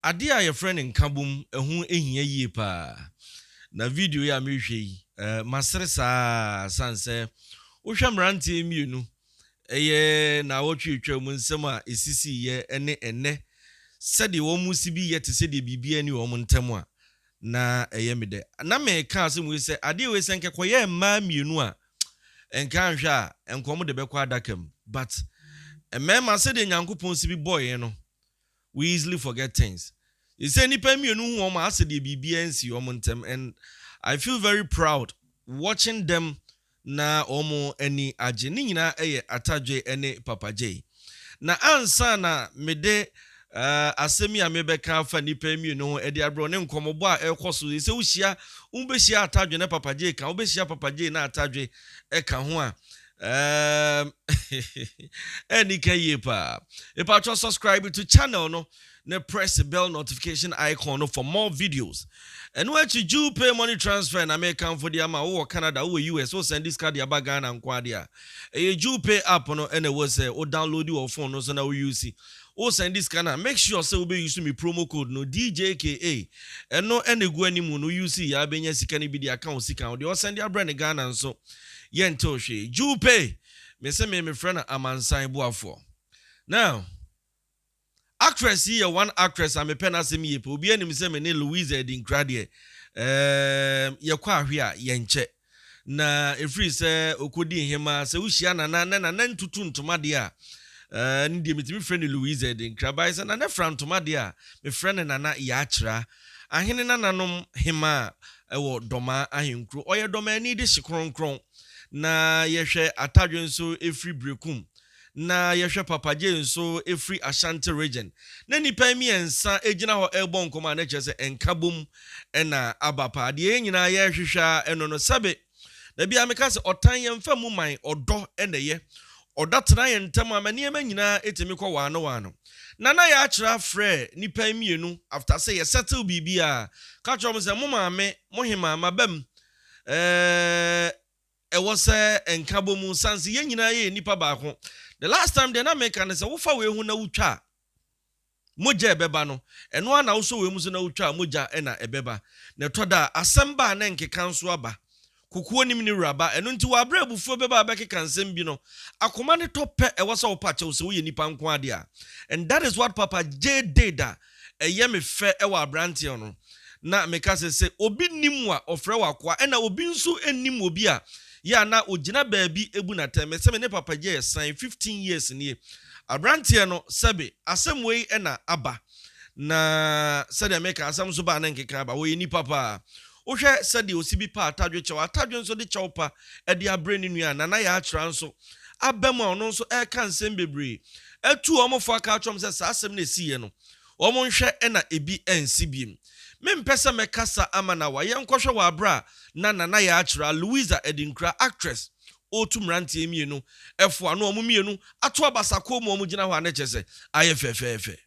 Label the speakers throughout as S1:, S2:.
S1: Adeɛ a yɛfrɛ no nkabom, ɛho hia yie paa. Na video yi a merehwɛ yi, masere saa ara sane sɛ wohwɛ mmeranteɛ yi mmienu, ɛyɛ nnawɔtwe a ɛtwaa mu nsɛm a ɛsisiiɛ ne ɛnnɛ sɛdeɛ wɔsi bi yɛ te sɛ deɛ biribiara nni wɔn ntam a, na ɛyɛ me dɛ. Na mereka asɛm wei sɛ, adeɛ wei sɛ anka ɛkɔyɛɛ mmaa mmienu a, anka anhwɛ a, anka wɔde bɛkɔ adaka mu. But mmarima, sɛdeɛ Nyankopɔn si bi bɔeɛ no, We easily forget things. Seesei nnipa mmienu hu wɔn a asɛ deɛ biribiara nsii wɔn ntɛm and I feel very proud watching them na wɔn ani agye. Ne nyinaa yɛ Atadjoe ne Papa Jay. Na ansa na mede eh, asɛm yi a mebɛka afa nnipa yi mmienu ho de abrɛ wo ne nkɔmmɔbɔ a ɛrekɔ so seesei wohyia, wobɛhyia Atadjoe na Papa Jay ka ho, wobɛhyia Papa Jay na Atadjoe ka ho a, Um, Enika Yepa. Epacho subscribe to channel no. Ne press the bell notification icon no for more videos. And where to you pay money transfer and American for the ama or Canada or US or send this card ya bagan and quadia. A you pay app no and it was or download your phone no so now you see. Or send this can make sure say be using me promo code no DJKA. And no any go anymore no you see ya benya sikani be the account sika or the send your brand Ghana and so. yɛntoo hwee. Jew pay, me se me mefrɛ no amansan boafoɔ. Now, actress yi yɛ one actress a mepɛ n'asɛm yie paa. Obiara nim sɛ me ne Louisa Adinkra deɛ, ɛɛm, yɛkɔ ahwe a, yɛnkyɛ. Na ɛfiri sɛ ɔkɔdi nhemaa, sɛ wohyia Nana na Nana ntutu ntoma deɛ a, ɛɛm, ne deɛ metumi frɛ no Louisa Adinkra. But sɛ Nana fira ntoma deɛ a, mefrɛ no Nana Yakyera. Ahene nananom hemaa wɔ Dɔmaa ahenkuro. Ɔyɛ Dɔmaani de hye kronkron. Na yɛhwɛ Atadwe nso firi Berekum. Na yɛhwɛ Papagye nso firi Ashanti Region. Na nnipa yi mmiɛnsa gyina hɔ rebɔ nkɔmmɔ a na kyerɛ sɛ nkabom na aba paa. Deɛ yɛn nyinaa yɛrehwehwɛ ara no no sɛbe. Da biara meka sɛ ɔtan yɛn mfa mmu man, ɔdɔ na ɛyɛ. Ɔdɔ atena yɛn ntam ama nneɛma nyinaa tumi kɔ waano waano. Nana Yakyerɛ afrɛɛ nnipa yi mmienu after sɛ yɛ settle biribiara, ka kyerɛɛ wɔn sɛ mo maame, mo hemaa, m'abam eh, ɛwɔ sɛ nka bɔ mu sane sɛ yɛn nyinaa yɛyɛ nnipa baako. The last time deɛ na meka ne sɛ wofa wei ho na wotwa a, Mogya a ɛbɛba no, ɛno ara na wosɔ w'amu so na wotwa a, mogya na ɛbɛba. Na ɛtɔ da a, asɛm ba a na ɛnkeka nso aba. Kokoa nim ne wura ba, ɛno nti wɔ bere a abufuo bɛba a wobɛkeka nsɛm bi no, akoma ne tɔ pɛ, ɛwɔ sɛ wopa kyɛw sɛ woyɛ nnipa nko ara de a. And that is what Papa Jay did a ɛyɛ me fɛ wɔ aberanteɛ no. Na meka sɛ, sɛ obi nim wo a, ɔfrɛ wo akoa, ɛna obi nso nnim obi a, Yɛ a na ogyina baabi bu no atɛn. Mese me ne Papa Jay san fifteen years nie. Abranteɛ no, sɛbe asɛm wei na aba na sɛdeɛ meka asɛm nso ba a na nkeka aba. Ɔyɛ nipa paa. Wohwɛ sɛdeɛ ɔsi bi pa atadwe kyɛw, atadwe nso de kyɛw pa de abrɛ ne nua a, Nana Yaakyera nso aba mu a ɔno nso reka nsɛm bebree. Atu wɔn fo aka akyerɛ wɔn sɛ saa asɛm no a ɛsiiɛ no, wɔnhwɛ na ebi ansi biem. Mempɛ sɛ mɛkasa ama no awa. Yɛnkɔhwɛ wɔ bere a na Nana yɛ akyerɛ a Louisa Adinkra, actress, ɔretu mmeranteɛ mmienu fo a na wɔn mmienu ato abasa kɔn mu a wɔgyina hɔ a na ɛkyerɛ sɛ ayɛ fɛfɛɛfɛ.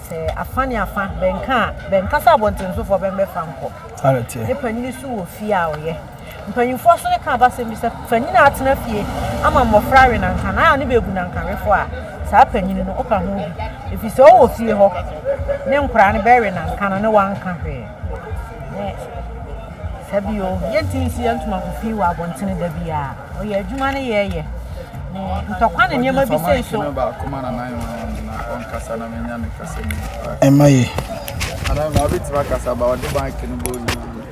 S1: Sɛ afã ne afã bɛnka
S2: a, bɛnkasa abɔntensofoɔ bɛmmɛfa nkɔ. Ne panyin so wɔ fie a ɔyɛ. Mpanyimfoɔ nso ne ka aba asɛm bi sɛ, Fa nyini a atena fie ama mmɔfra awe nanka na ayɛ ne baagu nanka wefo a, saa panyini no, woka ho bi, ɛfiri sɛ ɔwɔ fie hɔ ne nkoraa no bɛwe nanka no ne wanka hwee. Ne saa bio, yɛntumi nsi yɛn ntoma ngu fi wɔ abɔntene da biara. Ɔyɛ adwuma ne yɛ yɛ. Ne ntɔkwa ne nneɛma bi sei nso. Ɛmma yɛ.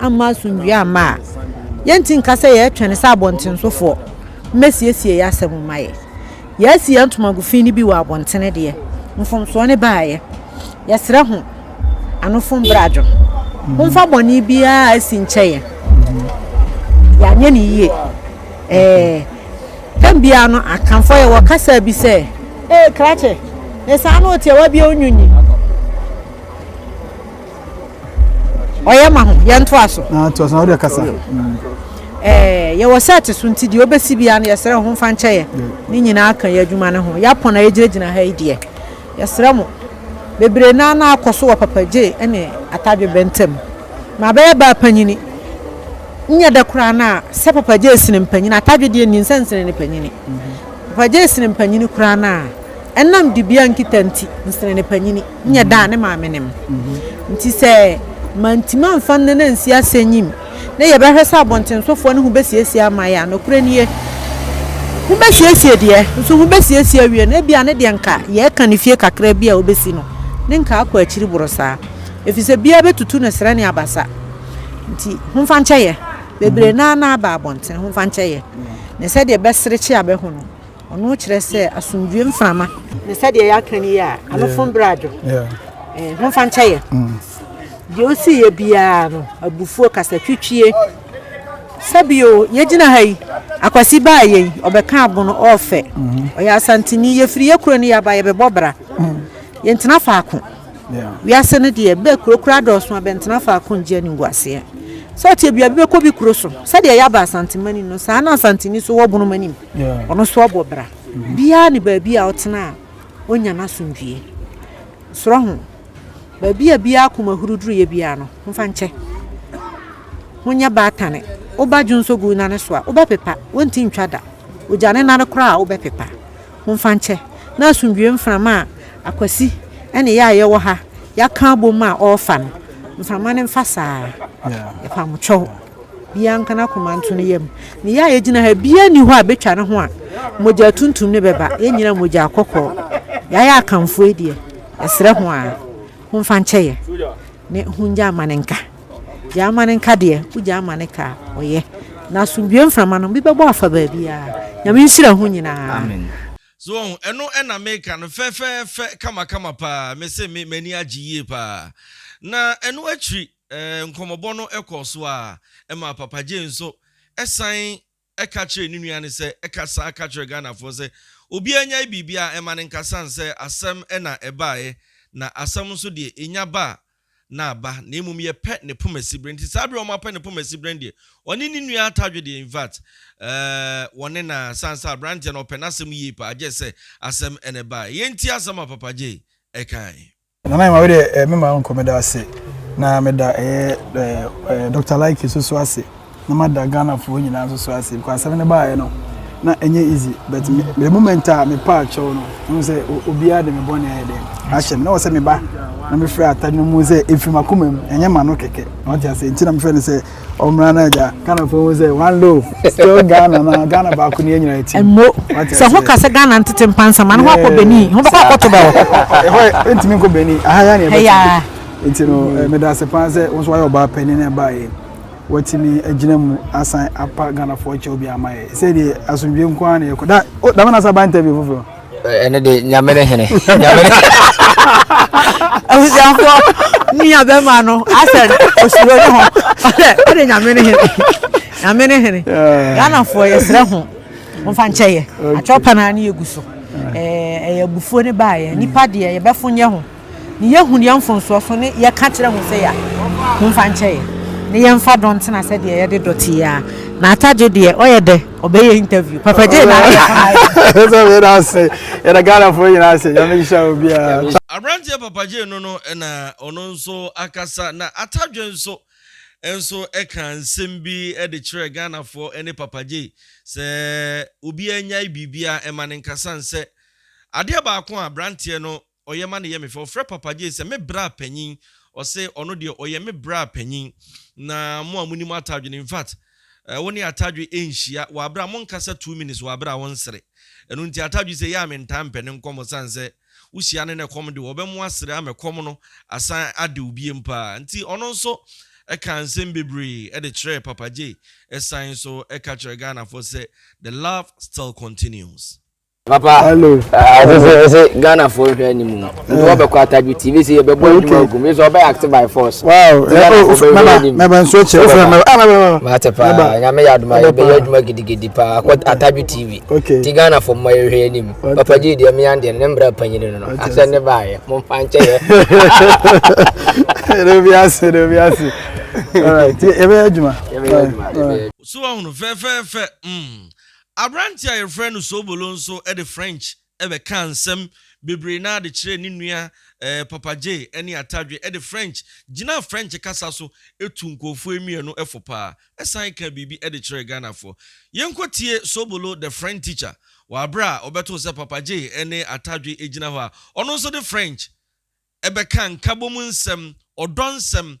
S2: amma asomdwoe amma a, yɛrente nka sɛ yɛretwɛn sɛ abɔntensofoɔ mmɛsiesie yɛn asɛm mma yɛn. Yɛasi yɛn ntomago fi no bi wɔ abɔntene deɛ, mfomsoɔ no baeɛ. Yɛsrɛ ho anofo mbrɛ adwo. Momfa bɔne biara a asi nkyɛ yɛn. Yɛanyɛ no yie. Ɛɛ, tam biara no, akanfoɔ yɛ wɔ kasa bi sɛ, Ee, krakye, ne saa no otiawa bi onyunyi. ɔyɛ ma ho yɛn ntoa so. na ntoa so na ɔde kasa.
S3: ɛɛ
S2: yɛwɔ sɛɛte so nti deɛ ɔbɛsi biara no yɛsrɛ ho mfa nkyɛ yɛ ne nyinaa ka yɛ adwuma no ho yɛapɔn a yɛgyinagyina ha yi deɛ yɛsrɛ mo bebree naa na akɔ so wɔ papagye ne atadwebɛ ntam ma bɛyɛ baa panyini nyɛ dɛ koraa no a sɛ papagye esene mpanyini atadwe deɛ nni nsɛnsene ne panyini papagye esene mpanyini koraa no a ɛnam dibea nkita nti nsene ne panyini nnyɛ da a ne maame nim. Ntsi sɛ manntumi ammfa no na annsi asɛnyim na yɛbɛhwɛ sɛ abɔntsensofoɔ no ho bɛsiesie ama yɛ a, nokorɛ nie, ho bɛsiesie deɛ, nso ho bɛsiesie awie no, ebia ne deɛ nka yɛreka ne fie kakra bi a ɔbɛsi no, ne nka akɔ akyiri boro saa. Ɛfiri sɛ biara bɛtutu ne serɛ ne abasa. Nti homfa nkyɛ yɛ. Bebree no ara na aba abɔntene, homfa nkyɛ yɛ. Ne sɛdeɛ bɛserekye a bɛho no. Ɔno kyerɛ sɛ asomdwoe mframa. Ne sɛdeɛ yɛaka no yi a, anofo mbrɛ adwo. Eh, homfa nkyɛ yɛ. Mm. Deɛ ɔsi yɛ biara no, abufuo kasa twitwie. Sɛbio, yɛgyina ha yi, akwasi baa yɛ yi, ɔbɛka abono, ɔɔfɛ. Mm-hmm. Ɔyɛ asanteni, yɛfiri yɛ kuro no yɛaba, yɛbɛbɔ bra. Mm. Yɛntena faako. Wiase no deɛ, bɛ kuro kura dɔɔso a, bɛntena faako ngye animguaseɛ. Sɛ ɔteɛ bia, bɛbɛkɔ bi kuro so. Sɛdeɛ yɛaba asantemani no, saa na asanteni so wɔ bonom anim. Ɔno nso ɔbɔ bra. Biaa ne baabi a ɔtena a ɔnya n'asomdwie. Srɔ ho. Baabi a biaa akoma huru duruiɛ biaa no, ho fa nkyɛ. Ho nyɛ baatane. Wo ba dwo nso gu nane so a, wo bɛpepa. Wonti ntwa da. Ogya ne nane koraa a, wo bɛpepa. Ho fa nkyɛ. Na asomdwie mframa a Akwasi ne yɛ a yɛwɔ ha, yɛaka abom a ɔɔfa no, mframa no mfa saa. Yɛpa mo kyɛw. Biaa nka n'akoma nto ne yam. Ne yɛ a yɛgyina ha biaa nni hɔ a bɛtwa ne ho a mogya tuntum no bɛba. Yɛn nyinaa mogyaa kɔkɔɔ. Yɛayɛ Akanfoɔ yi deɛ, yɛsrɛ ho ara, homfa nkyɛ yɛ ne hongya ama no nka. Gyaa ama no nka deɛ wogyaa ama no ka a, ɔyɛ. Na asomdwoeɛ mframa no bi bɛbɔ afa baabiaa. Nyame nhyira ho nyinaa. So
S1: wahu? Ɛno na meka no fɛfɛɛfɛ kamakama paa. Mese me m'ani agye yie paa. Na ɛno akyiri. Nkɔmmɔbɔ no kɔɔ so ara maa Papa Jay nso san ka kyerɛɛ ne nua no sɛ, Ka saa ka kyerɛ Ghanafoɔ sɛ obiara nnyae biribiara ɛma no nka sane sɛ asɛm na ɛbaeɛ na asɛm nso deɛ ɛnya ba a na aba na mmom yɛpɛ ne poma siberɛ nti saa berɛ a wɔapɛ ne poma siberɛ no deɛ ɔne ne nua atadwe deɛ infact wɔne na sane sɛ aberanteɛ no ɔpɛ n'asɛm yie paa gyɛsɛ asɛm na ɛbaeɛ yei nti asɛm a Papa Jay kaeɛ. Nana Nyoma wede
S3: eh me ma nko meda ase na meda ɛyɛ eh Dr Lykke so so ase na mada Ghana foɔ nyinaa nso so ase because asɛm no baayɛ no na ɛnyɛ easy but me the moment a me pa akyɛw no ɛmu sɛ obiara de me bɔne ayɛ dɛ ahyɛ me na wɔsɛ me ba na me frɛ atade no mu sɛ ɛfiri makoma mu ɛnyɛ ma no kɛkɛ na wɔte ase nti na me frɛ no sɛ ɔmmra no agya ghanafoɔ hu sɛ one loaf still ghana na ghana baako ne yɛnyina ɛti mo sɛ ho
S2: ka sɛ ghana ntete mpa nsɛm ano ho akɔ bani ho bɛkɔ akɔto bɛ hɔ ɛhɔ ɛntumi
S3: nkɔ bani aha ya ne ɛbɛtumi nti no eh, meda ase paa sɛ wo nso wayɛ ɔbaa pani no ɛbaeɛ watumi agyina mu asan apa ghanafoɔ kyɛw bi ama yɛ sɛ deɛ asomdwe nko ara na yɛkɔ da oh, dama na sa ba interview foforɔ ɛno de nyame
S4: ne hene nyame ne
S2: abusuafoɔ ne yɛ bɛma no asɛ osuro ne ho ɔdɛ ɔde nyame ne hene nyame ne hene ghanafoɔ yɛserɛ ho momfa nkyɛ yɛ atwerɛ pa no a ne yɛgu so ɛyɛ abufuo ne baayɛ nnipa deɛ yɛbɛfo nyɛ ho Ne yɛ hu deɛ mfonsoɔ so ne yɛ ka kyerɛ ho sɛ ya ho mfa nkyɛ yɛ ne yɛ mfa dɔ ntena sɛ deɛ yɛ de dɔ te yɛ a na ata gye deɛ ɔyɛ dɛ ɔbɛ yɛ interview papa gye na ayɛ kama ayɛ. Ɛsɛ yɛ na ase
S3: yɛ na Ghana fo yɛ na ase yɛ mɛ nhyɛ obi a. Abranteɛ papa gye
S1: no no na ɔno nso akasa na ata gye nso nso ɛka nsɛm bi de kyerɛ Ghana fo ne papa gye sɛ obi anyae biribi a ɛma ne nkasa nsɛ adeɛ baako a abranteɛ no Ɔyɛ ma no yɛ me fɛ. Ɔfrɛ Papa Jay sɛ me braa panyin. Ɔse ɔno deɛ ɔyɛ me braa panyin. Na mo a monim Atadwe no, infact wo ne Atadwe nhyia wɔ abere a monkasa two minutes wɔ abere a wonsere. Ɛno nti Atadwe se yɛ a mentaa mpɛ ne nkɔmmɔ sane sɛ wohyia no na ɛkɔm de wo a ɔbɛmo asere ama ɛkɔm no asan ade wo biem paa. Nti ɔno nso kaa nsem bebree de kyerɛɛ Papa Jay san nso ka kyerɛ Ghanafoɔ sɛ the love still continues. papa
S4: ɛsɛ
S3: sɛ ɛsɛ
S4: ghana fo nhwɛ anim no nti wɔbɛkɔ atagye tv sɛ yɛbɛbɔ adwuma agu mu sɛ ɔbɛyɛ active by force
S3: mɛbɛ nso kyɛ wofrɛ mɛbɛ mate
S4: paa nyame yɛ adoma yɛbɛyɛ adwuma gidigidi paa kɔ atagye tv nti ghana fo mmɔ yɛhwɛ anim papa gye deɛ meya deɛ ne mmra panyini no no asɛ ne baayɛ momfa nkyɛ yɛ ne bi ase ne bi ase
S3: yɛbɛyɛ adwuma
S1: so ɔhono fɛfɛɛfɛ mm. Aberante a wɔfrɛ no Sobolo nso de French bɛkaa nsɛm bebree no ara de kyerɛɛ ne nua Papa Jay ne Atadwe de French gyinaa French kasa so tuu nkurɔfoɔ yi mmienu fo pa ara san kaa biribi de kyerɛɛ Ghanafoɔ. Yɛnkɔtie Sobolo the French teacher wɔ aberɛ a ɔbɛtoo sɛ Papa Jay ne Atadwe gyina hɔ a ɔno nso de French bɛkaa nkabɔmu nsɛm, ɔdɔ nsɛm,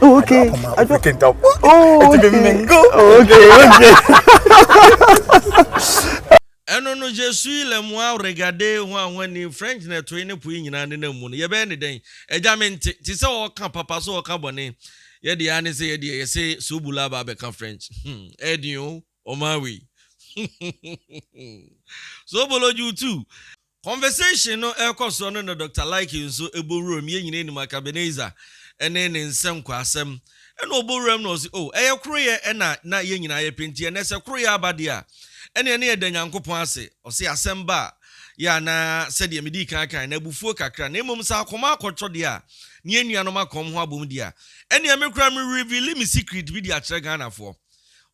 S3: Oh, okay. I don't, I don't, I don't, oh, okay. Oh, okay, okay.
S1: ɛno no je suis le moi regarder ho a ho ani french na ɛtoe ne poe nyinaa ne nam mu no yɛbɛyɛ ne dɛn agya me nte te sɛ ɔka papa so ɔka bɔne yɛde ya ne sɛ yɛde yɛyɛ sɛ sobula ba abɛka french hmm ɛdin o Ɔmaa wei. Zoobology wo tu. Conversation no ɛrekɔ soɔ no na Doctor Like nso bɔ wuram, yɛn nyinaa nim Akabenezer ne ne nsɛnkwasɛm. Ɛna ɔbɔ wuram na ɔse oh ɛyɛ koroyɛ na na yɛn nyinaa yɛpɛ nti ɛnɛ sɛ koroyɛ aba deɛ a ɛneɛ na yɛda Nyankopɔn ase. Ɔse asɛm ba a yɛ a na sɛdeɛ medii kan kaeɛ no abufuo kakra na mmom sɛ akoma akɔtɔ deɛ a ne yɛn nuanom akɔm ho abom deɛ a ɛneɛ me koraa me reveale me secret bi de akyerɛ Ghanafoɔ.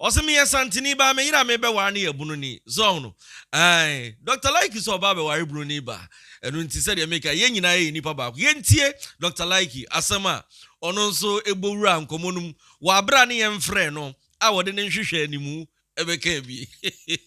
S1: Ɔse meyɛ santini ba, me yere a mebɛware no yɛ bununi. So wahu no? Ae. Doctor Laiki so ɔbaa bɛware bununi ba. Ɛno nti sɛdeɛ meka yi, yɛn nyinaa yɛ nnipa baako. Yɛntie Doctor Laiki asɛm a ɔno nso bɔ wuraa nkɔmmɔ no mu wɔ abere a ne yɛn mfrɛɛ no a ɔde ne nhwehwɛ animu bɛkaa bi.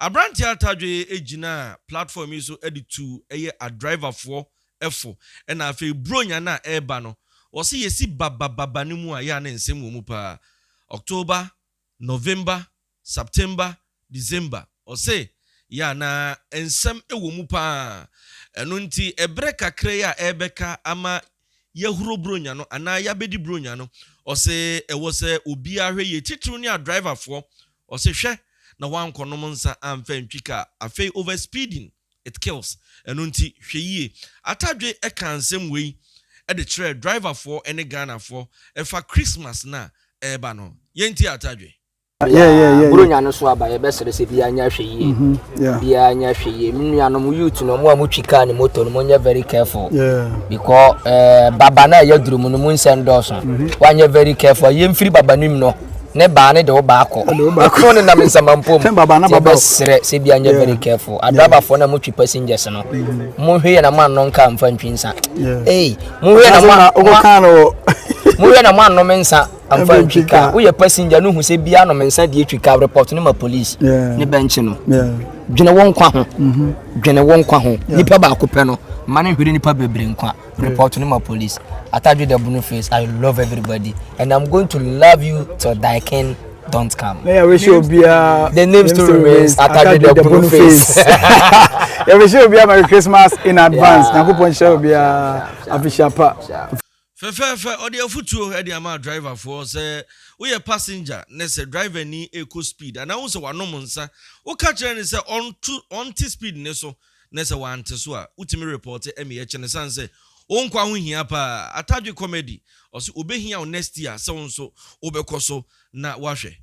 S1: Aberanteɛ Atadwe gyinaa platform yi so de tuu ɛyɛ adriverfoɔ fo na afei Buronya no a ɛreba no, wɔse yɛsi babababa no mu a yɛ a na nsɛm wɔ mu paa. October, November, September, December, ɔse yɛ a na nsɛm wɔ mu paa. Ɛno nti ɛberɛ kakra yi a ɛrebɛka ama yɛahuro Buronya no anaa yɛabɛdi Buronya no. Ɔse ɛwɔ sɛ obiara hwɛ yie, titiriw ne adriverfoɔ. Ɔse hwɛ na woankɔnom nsa amfa antwi kaa. Afei over speeding, it kills. Ɛno nti hwɛ yie. Atadwe kaa nsɛm wei de kyerɛɛ driverfoɔ ne Ghanafoɔ ɛfa Christmas no a ɛreba no ho. Yɛntie Atadwe. Yeah, yeah, yeah.
S3: Buronya no so aba
S4: yɛbɛsrɛ sɛ biara nyɛ ahwɛyie. Mhm, biara nyɛ ahwɛyie. Me nuanom youth no ɔmo a motwi kaa ne moto no monyɛ very careful. Because eh, baba no a ɛyɛ duro mu no mu nsɛm dɔɔso. Mhm. Woanyɛ very careful. Yɛmfiri baba no mu no ne baa ne de wo baa kɔ ɛkoro ne nam nsamanpo mu sɛ bɛserɛ sɛ bia nyɛ very careful adrabafoɔ no a motwe passengers no mm-hmm. mohwɛ yɛ na moanno nka mfa ntwi nsa ei mohwɛ na moanno me nsa amfa ntwi ka woyɛ passenger no hu sɛ bia nom nsa deɛ twi ka report no ma police ne bɛnkye no dwene wo nkwa ho mhm. dwene wo nkwa ho nipa baako pɛ no ma no nhwere nipa bebree nkwa report no ma police atadwe da bunu face i love everybody and i'm going to love you till die king don't come. May I wish you be a
S3: the name still
S4: remains Atade the Bunu Face. I
S3: wish you be a Merry Christmas in advance. Nangu pon show be a Afishapa. Fɛfɛɛfɛ,
S1: ɔde afotuo de ama driver foɔ sɛ woyɛ passenger ne sɛ driver ni rekɔ speed anaa wohu sɛ wanom nsa, woka kyerɛ no sɛ ɔnto ɔnte speed no so na sɛ wante so a wotumi report ɛme ɛkyɛ no sane sɛ wo nkwa ho hia paa. Atadwe Comedy ɔse obehia wo next year sɛ wo nso wobɛkɔ so na woahwɛ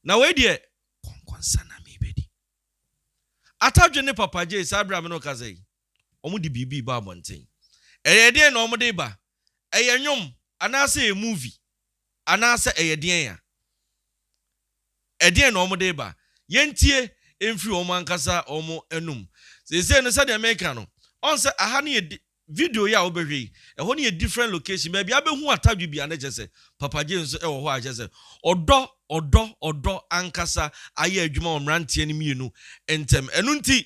S1: na wei deɛ kɔnkɔnsa na mebɛdi. Atadwe ne Papa Jay saa berɛ a me ne wo kasa yi. Wɔde biribi reba abɔnten. Ɛyɛ deɛn na wɔde reba? Ɛyɛ nnwom anaasɛ ɛyɛ movie? Anaasɛ ɛyɛ deɛn a? Ɛdeɛn na wɔde reba? Yɛntie mfiri wɔn ankasa wɔn anom. Seesei no sɛdeɛ meka no, ɔn sɛ aha no yɛ video yi a wobɛhwɛ yi, ɛhɔ no yɛ different location. Baabi a wobɛhu Atadwe bi a na kyerɛ sɛ Papa Gye nso wɔ hɔ a kyerɛ sɛ ɔdɔ, ɔdɔ, ɔdɔ ankasa ayɛ adwuma wɔ mmeranteɛ no mmienu ntam. Ɛno nti,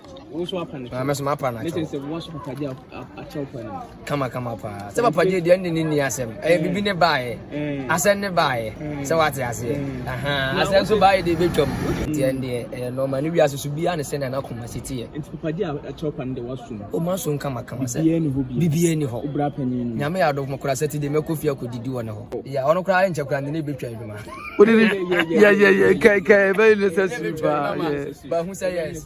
S4: Ah,
S5: mɛso mapa no akyɛw kama kama paa
S4: sɛ papa gye deɛ ne ne nni asɛm ɛyɛ eh, biribi ne baeɛ eh. asɛm ne baeɛ eh. sɛ woate aseɛ asɛm so baeɛ deɛ ɛbɛtwam ntiɛ ndeɛ ɛyɛ nɔma ne wiase so biaa ne sɛnea nakoma si teɛ
S5: ɔma so nkama kama
S4: sɛ biribiaa ni hɔ nyame yɛ
S5: adɔfo kora sɛ ti
S4: deɛ mɛkɔ fie akɔdidi wɔ ne hɔ yɛ ɔno koraa nkyɛ kora ne ne bɛtwa adwuma wode ne
S3: yɛyɛyɛ kɛkɛ ɛbɛyɛ necessary paa bahu
S4: sɛ yes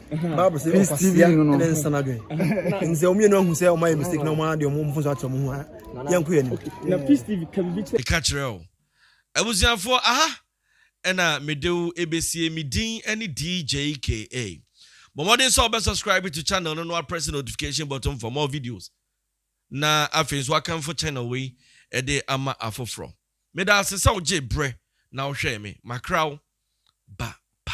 S6: bible sɛ ɔkwasia ne nsa no adwen ɛne sɛ ɔmyɛ no ahu sɛ ɔmayɛ mistake na ɔma deɛ ɔmo mfo so akyerɛ mo ho a yɛnko yɛ
S5: ne ka kyerɛ o
S1: abusuafoɔ aha ɛna mede wo ɛbɛsie me din ɛne DJKA bɔ mmɔden sɛ ɔbɛ subscribe to channel no no apress notification button for more videos na afei nso akanfo channel wei ɛde ama afoforɔ Meda ase sɛ wogyee berɛ na wohwɛɛ me. Makra wo. Ba bye.